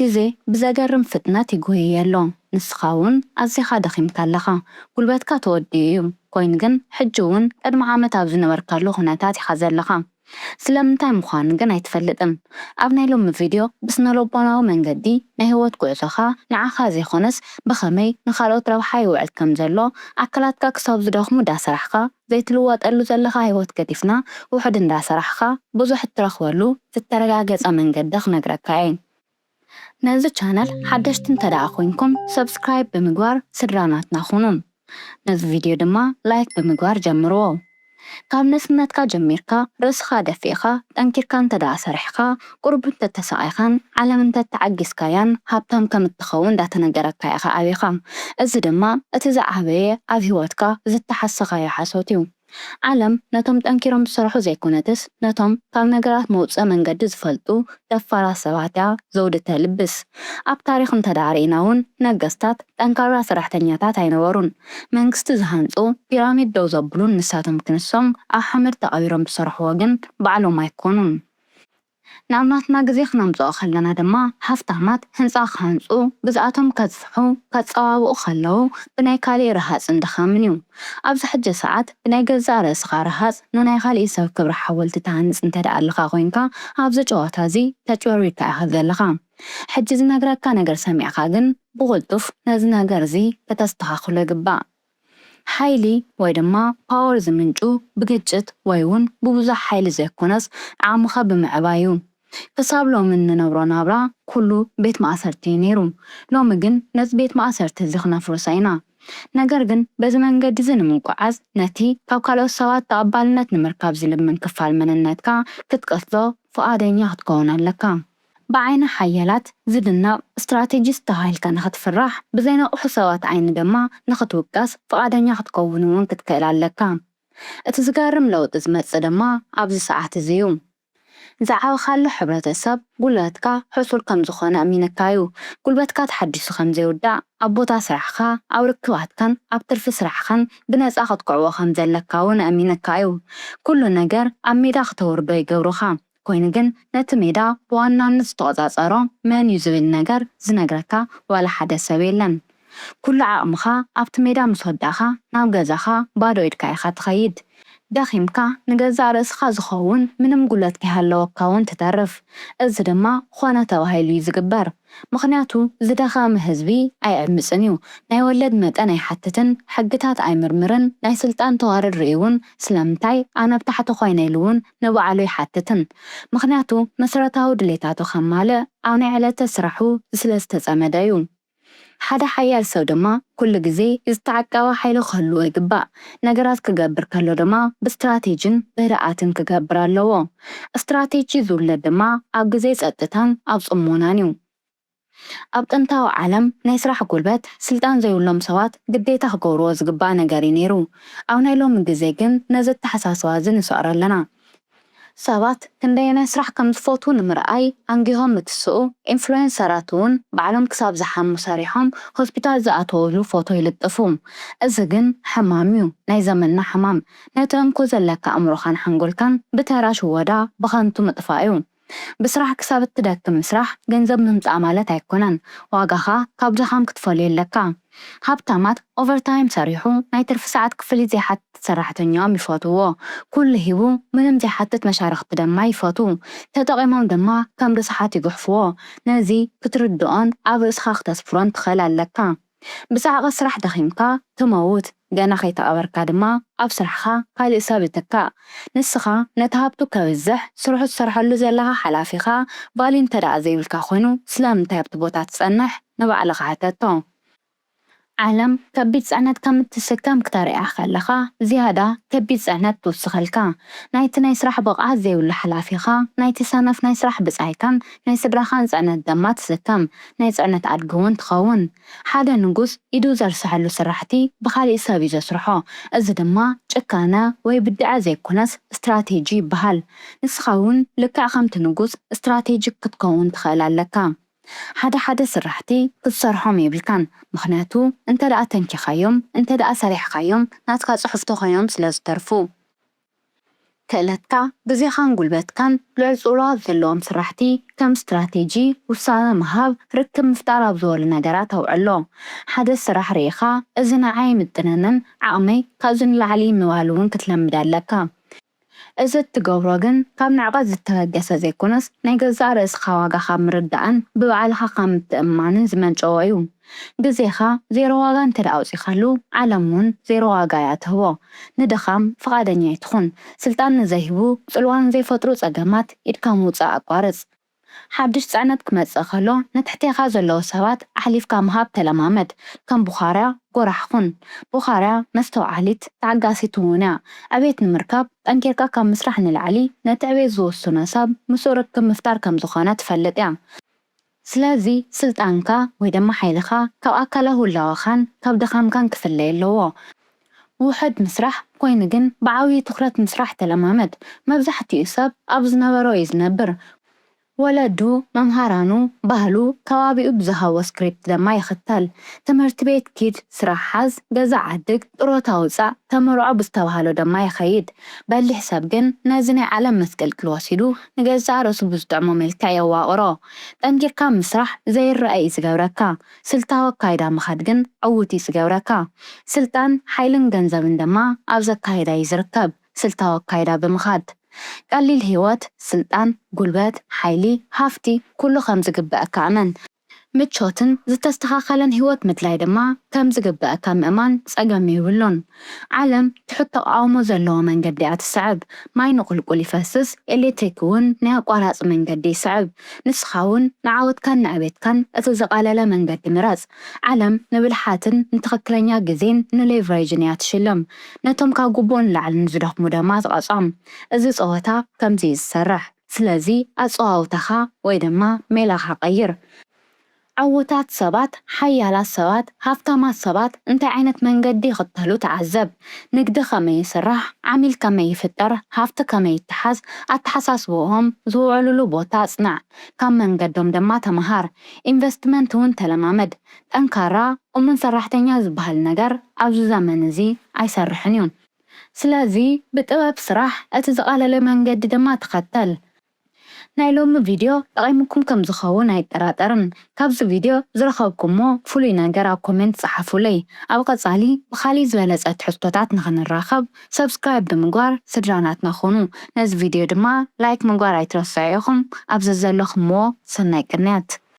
ግዜ ብዘገርም ፍጥነት ይጎይይ ኣሎ ንስኻ ውን ኣዚኻ ደኺምካ ኣለኻ ጉልበትካ ተወዲኡ እዩ ኮይኑ ግን ሕጂ ውን ቅድሚ ዓመት ኣብ ዝነበርካሉ ኩነታት ኢኻ ዘለኻ ስለምንታይ ምዃኑ ግን ኣይትፈልጥን ኣብ ናይ ሎሚ ቪድዮ ብስነልቦናዊ መንገዲ ናይ ሂወት ጉዕዞኻ ንዓኻ ዘይኾነስ ብኸመይ ንኻልኦት ረብሓ ይውዕል ከምዘሎ ኣካላትካ ክሳብ ዝደኽሙ ዳሰራሕካ ዘይትልወጠሉ ዘለኻ ህይወት ገዲፍና ውሑድ እንዳ ሰራሕኻ ብዙሕ እትረኽበሉ ዝተረጋገጸ መንገዲ ክነግረካ እየ ነዚ ቻነል ሓደሽቲ እንተ ደኣ ኮይንኩም subscribe ብምግባር ስድራ ናትና ኩኑ ነዚ ቪድዮ ድማ like ብምግባር ጀምርዎ ካብ ንእስነትካ ጀሚርካ ርእስኻ ደፊእኻ ጠንኪርካ እንተ ደኣ ሰሪሕኻ ቁሩብ እንተተሳቓይካን ዓለም እንተተዓጊስካያን ሃብታም ከም እትኸውን እንዳተነገረካ ኢኻ ዓቢኻ። እዚ ድማ እቲ ዝዓበየ ኣብ ህይወትካ ዝተሓሰኻዮ ሓሶት እዩ። ዓለም ነቶም ጠንኪሮም ዝሰርሑ ዘይኮነትስ ነቶም ካብ ነገራት መውጽኢ መንገዲ ዝፈልጡ ደፋራት ሰባት እያ ዘውዲ ተልብስ። ኣብ ታሪኽ እንተድኣ ርኢና እውን ነገስታት ጠንካራ ሰራሕተኛታት ኣይነበሩን። መንግስቲ ዝሃንጹ፣ ፒራሚድ ደው ዘብሉን ንሳቶም ክንሶም ኣብ ሓመድ ተቐቢሮም ዝሰርሕዎ ግን ባዕሎም ኣይኮኑን። ናብ ናትና ግዜ ክነምጽኦ ከለና ድማ ሃፍታማት ህንጻ ክሃንጹ፣ ግዝኣቶም ከጽፍሑ፣ ከጸባብቑ ከለዉ ብናይ ካልእ ረሃጽን ድኻምን እዩ። ኣብዚ ሕጂ ሰዓት ብናይ ገዛእ ርእስኻ ረሃጽ ንናይ ካልእ ሰብ ክብሪ ሓወልቲ ትሃንጽ እንተደኣ ኣለኻ ኮይንካ ኣብዚ ጨዋታ እዚ ተጭበርቢርካ ኢኻ ዘለኻ። ሕጂ ዝነግረካ ነገር ሰሚዕካ ግን ብቕልጡፍ ነዚ ነገር እዚ ከተስተኻኽሎ ይግባእ። ሓይሊ ወይ ድማ ፓወር ዝምንጩ ብግጭት ወይ ውን ብብዙሕ ሓይሊ ዘይኮነስ ዓቕምኻ ብምዕባይ ዩ። ክሳብ ሎሚ እንነብሮ ናብራ ኩሉ ቤት ማእሰርቲ ዩ ነይሩ። ሎሚ ግን ነዚ ቤት ማእሰርቲ እዚ ክነፍርሶ ኢና። ነገር ግን በዚ መንገዲ እዚ ንምጉዓዝ ነቲ ካብ ካልኦት ሰባት ተቐባልነት ንምርካብ ዝልምን ክፋል መንነትካ ክትቀትሎ ፍቓደኛ ክትከውን ኣለካ። ብዓይኒ ሓያላት ዝድነቕ ስትራቴጂስት ተባሂልካ ንኽትፍራሕ፣ ብዘይነቕሑ ሰባት ዓይኒ ድማ ንኽትውቀስ ፍቓደኛ ክትከውን እውን ክትክእል ኣለካ። እቲ ዝገርም ለውጢ ዝመጽእ ድማ ኣብዚ ሰዓት እዚ እዩ። ዝዓበኻሉ ሕብረተሰብ ጉልበትካ ሕሱር ከም ዝዀነ ኣሚንካ እዩ። ጉልበትካ ተሓዲሱ ከም ዘይውዳእ፣ ኣብ ቦታ ስራሕኻ፣ ኣብ ርክባትካን ኣብ ትርፊ ስራሕኻን ብነጻ ክትኵዕቦ ከም ዘለካ እውን ኣሚንካ እዩ። ኵሉ ነገር ኣብ ሜዳ ክተውርዶ ይገብሩኻ። ኮይኑ ግን ነቲ ሜዳ ብዋናነት ዝተቆጻጸሮ መን እዩ ዝብል ነገር ዝነግረካ ዋላ ሓደ ሰብ የለን ኩሉ ዓቅምካ ኣብቲ ሜዳ ምስ ወዳእካ ናብ ገዛካ ባዶ ኢድካ ኢካ ትከይድ ደኪምካ ንገዛእ ርእስካ ዝከውን ምንም ጉለት ከይሃለወካ ውን ትተርፍ እዚ ድማ ኮነ ተባሂሉ እዩ ዝግበር ምኽንያቱ ዝደኸመ ህዝቢ ኣይዕምጽን እዩ፣ ናይ ወለድ መጠን ኣይሓትትን፣ ሕግታት ኣይምርምርን፣ ናይ ስልጣን ተዋረድ ርእዩውን ስለምንታይ ኣነ ኣብ ታሕቲ ኮይነ ኢሉውን ንባዕሉ ኣይሓትትን። ምኽንያቱ መሰረታዊ ድሌታቱ ከማልእ ኣብ ናይ ዕለተ ስራሑ ስለዝተጸመደ እዩ። ሓደ ሓያል ሰብ ድማ ኩሉ ግዜ ዝተዓቀበ ሓይሊ ክህልዎ ይግባእ። ነገራት ክገብር ከሎ ድማ ብስትራቴጂን ብህድኣትን ክገብር ኣለዎ። ስትራቴጂ ዝውለድ ድማ ኣብ ግዜ ጸጥታን ኣብ ጽሞናን እዩ። ኣብ ጥንታዊ ዓለም ናይ ስራሕ ጉልበት ስልጣን ዘይብሎም ሰባት ግዴታ ክገብርዎ ዝግባእ ነገር እዩ ነይሩ። ኣብ ናይ ሎሚ ግዜ ግን ነዚ ኣተሓሳስባ እዚ ንሰዕሮ ኣለና። ሰባት ክንደየናይ ስራሕ ከም ዝፈትዉ ንምርኣይ ኣንጊሆም ምትስኡ፣ ኢንፍሉዌንሰራት'ውን ባዕሎም ክሳብ ዝሓሙ ሰሪሖም ሆስፒታል ዝኣተዉሉ ፎቶ ይልጥፉ። እዚ ግን ሕማም'ዩ፣ ናይ ዘመንና ሕማም። ነቲ እንኮ ዘለካ ኣእምሮኻን ሓንጎልካን ብተራ ሽወዳ ብኸንቱ ምጥፋእ'ዩ። ብስራሕ ክሳብ እትደክም ምስራሕ ገንዘብ ምምጻእ ማለት ኣይኮነን ዋጋኻ ካብ ድኻም ክትፈልዮ ኣለካ ሃብታማት ኦቨርታይም ሰሪሑ ናይ ትርፊ ሰዓት ክፍሊት ዘይሓትት ሰራሕተኛኦም ይፈትውዎ ኩሉ ሂቡ ምንም ዘይሓትት መሻርኽቲ ደማ ይፈትው ተጠቂሞም ደማ ከም ርስሓት ይጉሕፍዎ ነዚ ክትርድኦን ኣብ ርእስኻ ክተስፍሮን ትኽእል ኣለካ ብጻዕቒ ስራሕ ደኺምካ ትመውት፣ ገና ከይተቐበርካ ድማ ኣብ ስራሕኻ ካልእ ሰብ ይትካእ። ንስኻ ነቲ ሃብቱ ከብዝሕ ስርሑ ትሰርሐሉ ዘለኻ ሓላፊኻ ቫልዩ እንተድኣ ዘይብልካ ኮይኑ ስለምንታይ ኣብቲ ቦታ ትጸንሕ ንባዕልኻ ሕተቶ። ዓለም ከቢድ ጽዕነት ከም እትስከም ክተርእያ ከለኻ ዝያዳ ከቢድ ጽዕነት ትውስኸልካ። ናይቲ ናይ ስራሕ ብቕዓት ዘይብሉ ሓላፊኻ፣ ናይቲ ሰነፍ ናይ ስራሕ ብጻይካን ናይ ስድራኻን ጽዕነት ደማ ትስከም። ናይ ጽዕነት ኣድጊ ውን ትኸውን። ሓደ ንጉስ ኢዱ ዘርሰሐሉ ስራሕቲ ብኻሊእ ሰብ ዩ ዘስርሖ እዚ ድማ ጭካነ ወይ ብድዐ ዘይኮነስ ስትራቴጂ ይበሃል። ንስኻ ውን ልክዕ ከምቲ ንጉስ ስትራቴጂክ ክትከውን ትኽእል ኣለካ። ሓደ ሓደ ስራሕቲ ክትሰርሖም የብልካን ምኽንያቱ እንተደኣ ተንኪኻዮም እንተደኣ ሰሪሕኻዮም ናትካ ጽሑፍ ተኾይኖም ስለ ዝተርፉ። ክእለትካ፣ ግዜኻን ጉልበትካን ልዑል ጽልዋ ኣብ ዘለዎም ስራሕቲ ከም ስትራቴጂ፣ ውሳነ ምሃብ፣ ርክብ ምፍጣር ኣብ ዝበሉ ነገራት ኣውዕሎ። ሓደ ስራሕ ርኢኻ እዚ ንዓይ ኣይምጥነንን፣ ዓቕመይ ካብዚ ንላዕሊ እዩ ምባል እውን ክትለምድ ኣለካ። እዚ እትገብሮ ግን ካብ ንዕቀት ዝተበገሰ ዘይኮነስ ናይ ገዛእ ርእስኻ ዋጋ ካብ ምርዳእን ብባዕልኻ ካብ ምትእምማንን ዝመንጨወ እዩ። ግዜኻ ዜሮ ዋጋ እንተ ኣውጺኻሉ ዓለም ውን ዜሮ ዋጋ እያ ትህቦ። ንድኻም ፍቓደኛ ኣይትኹን። ስልጣን ንዘይህቡ ጽልዋ ንዘይፈጥሩ ጸገማት ኢድካ ምውጻእ ኣቋርጽ። ሓድሽ ጽዕነት ክመጽእ ከሎ ንትሕቴኻ ዘለዉ ሰባት ኣሕሊፍካ ምሃብ ተለማመድ። ከም ቡኻርያ ጎራሕ ኹን። ቡኻርያ መስተውዓሊት ተዓጋሲት ውን እያ። ዕቤት ንምርካብ ጠንኪርካ ካብ ምስራሕ ንላዕሊ ነቲ ዕቤት ዝውስኖ ሰብ ምስኡ ርክብ ምፍጣር ከም ዝኾነ ትፈልጥ እያ። ስለዚ ስልጣንካ ወይ ድማ ሓይልኻ ካብ ኣካላዊ ህላወኻን ካብ ድኻምካን ክፍለ ኣለዎ። ውሑድ ምስራሕ ኮይኑ ግን ብዓብዩ ትኹረት ምስራሕ ተለማመድ። መብዛሕቲኡ ሰብ ኣብ ዝነበሮ እዩ ዝነብር። ወለዱ፣ መምሃራኑ፣ ባህሉ፣ ከባቢኡ ብዝሃቦ ስክሪፕት ደማ ይኽተል። ትምህርቲ ቤት ኪድ፣ ስራሕ ሓዝ፣ ገዛ ዓድግ፣ ጥሮታ ውጻእ፣ ተመርዖ ብዝተባህሎ ደማ ይኸይድ። በሊሕ ሰብ ግን ነዚ ናይ ዓለም መስቀልቅል ወሲዱ፣ ንገዛእ ርእሱ ብዝጥዕሞ መልክዕ የዋቕሮ። ጠንኪርካ ምስራሕ ዘይረኣ እዩ ዝገብረካ፣ ስልታዊ ኣካይዳ ምኻድ ግን ዕዉት እዩ ዝገብረካ። ስልጣን፣ ሓይልን ገንዘብን ድማ ኣብዚ ኣካይዳ እዩ ዝርከብ፣ ስልታዊ ኣካይዳ ብምኻድ። ቀሊል ህይወት፣ ስልጣን፣ ጉልበት፣ ሓይሊ፣ ሃፍቲ፣ ኩሉ ከም ዝግበኣካ እመን። ምቾትን ዝተስተኻኸለን ህይወት ምድላይ ድማ ከም ዝግበኣካ ምእማን ጸገም የብሉን። ዓለም ትሑት ተቓውሞ ዘለዎ መንገዲ እያ ትስዕብ። ማይ ንቑልቁል ይፈስስ፣ ኤሌክትሪክ'ውን ናይ ኣቋራጺ መንገዲ ይስዕብ። ንስኻ'ውን ንዓወትካን ንዕቤትካን እቲ ዝቐለለ መንገዲ ምረጽ። ዓለም ንብልሓትን ንትኽክለኛ ግዜን ንሌቭሬጅን እያ ትሽልም። ነቶም ካብ ግቡእ ንላዕሊ ንዝደኽሙ ደማ ትቐጾም። እዚ ጸወታ ከምዚ እዩ ዝሰርሕ። ስለዚ ኣጸዋውታኻ ወይ ድማ ሜላኻ ቀይር። ዕዉታት ሰባት፣ ሓያላት ሰባት፣ ሃብታማት ሰባት እንታይ ዓይነት መንገዲ ይኽተሉ ተዓዘብ። ንግዲ ከመይ ይስራሕ፣ ዓሚል ከመይ ይፍጠር፣ ሃፍቲ ከመይ ይተሓዝ፣ ኣተሓሳስባኦም፣ ዝውዕሉሉ ቦታ ኣጽንዕ። ካብ መንገዶም ድማ ተመሃር። ኢንቨስትመንት እውን ተለማመድ። ጠንካራ፣ እሙን ሰራሕተኛ ዝበሃል ነገር ኣብዚ ዘመን እዚ ኣይሰርሕን እዩ። ስለዚ ብጥበብ ስራሕ እቲ ዝቐለለ መንገዲ ድማ ተኸተል። ናይ ሎሚ ቪድዮ ጠቒሙኩም ከም ዝኸውን ኣይጠራጠርን። ካብዚ ቪድዮ ዝረኸብኩሞ ፍሉይ ነገር ኣብ ኮሜንት ጸሓፉለይ። ኣብ ቐጻሊ ብኻሊእ ዝበለጸ ትሕዝቶታት ንኽንራኸብ subscribe ብምግባር ስድራ ናትና ኩኑ። ነዚ ቪድዮ ድማ like ምግባር ኣይትረስዑ ኢኹም። ኣብ ዘዘለኹምዎ ሰናይ ቅንያት።